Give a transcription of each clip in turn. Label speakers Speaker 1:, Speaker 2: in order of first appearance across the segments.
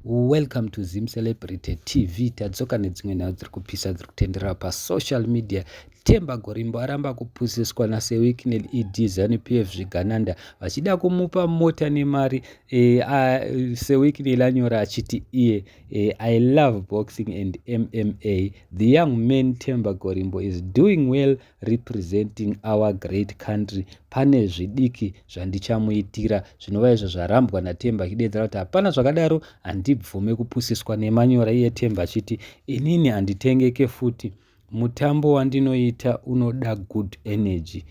Speaker 1: Welcome to Zim Celebrity TV. Tadzoka nedzimwe nhau dziri kupisa dziri kutenderera pasocial media. Temba Gorimbo aramba kupusiswa naSewick neED Zanu PF zvigananda vachida kumupa mota nemari. E, uh, Sewick nelanyora achiti iye e, I love boxing and MMA. The young man Temba Gorimbo is doing well representing our great country pane zvidiki zvandichamuitira zvinova izvo zvarambwa natemba achideedzera kuti hapana zvakadaro handibvume kupusiswa nemanyora iye temba achiti inini handitengeke futi mutambo wandinoita unoda good energy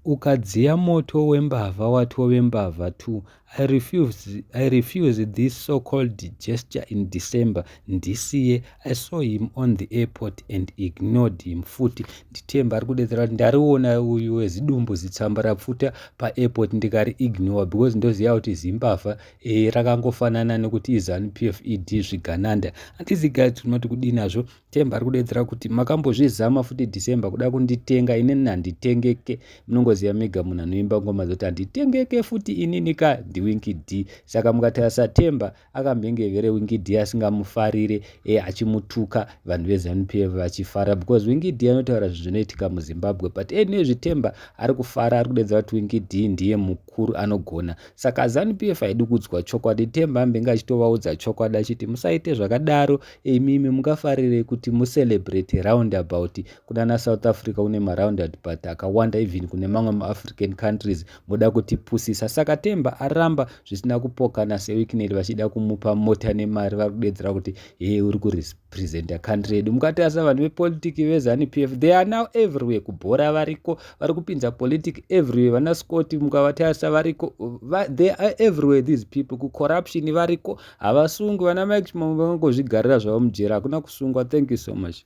Speaker 1: ukadziya moto wembavha watove mbavha t I refuse, I refuse this so-called gesture in December ndisiye. I saw him on the airport and ignored him futi. Nditemba ari kudedzera kuti ndariona uyu wezidumbu zitsamba rapfuta paairport ndikari ignore because ndoziva kuti zimbavha e, rakangofanana nekuti iZanu PF ED zvigananda. Handizi guys tinoti kudinazvo Themba ari kudeedzera kuti makambozvizama futi December kuda kunditenga inini handitengeke munongoziva mega munhu anoimba ngoma dzoti handitengeke futi inini ka ndiwinki d saka mukatarisa Themba akamhengevere winki d asingamufarire e, achimutuka vanhu veZanu PF vachifara because winki d anotaura zvinhu zvinoitika muZimbabwe but ene zvithemba ari kufara ari kudeedzera kuti winki d ndiye mukuru anogona saka Zanu PF haidi kuudzwa chokwadi Themba ambenge achitovaudza chokwadi achiti musaite zvakadaro imimi mungafarire kuti mucelebrate roundabout kunana south africa kune maroundabout akawanda even kune mamwe maafrican countries moda kutipusisa saka temba aramba zvisina kupokana sewicknel vachida kumupa mota nemari vari kudedzera kuti hee uri kurepresenta country yedu mukatarisa vanhu vepolitiki vezanu p f they are now everywhere kubhora variko vari kupinza politic everywhere vana scott mukavatarisa variko they are everywhere these people kucorruption variko Havasungwi vana Mike Chimamanda vangangozvigarira zvavo mujeri hakuna kusungwa thank you so much.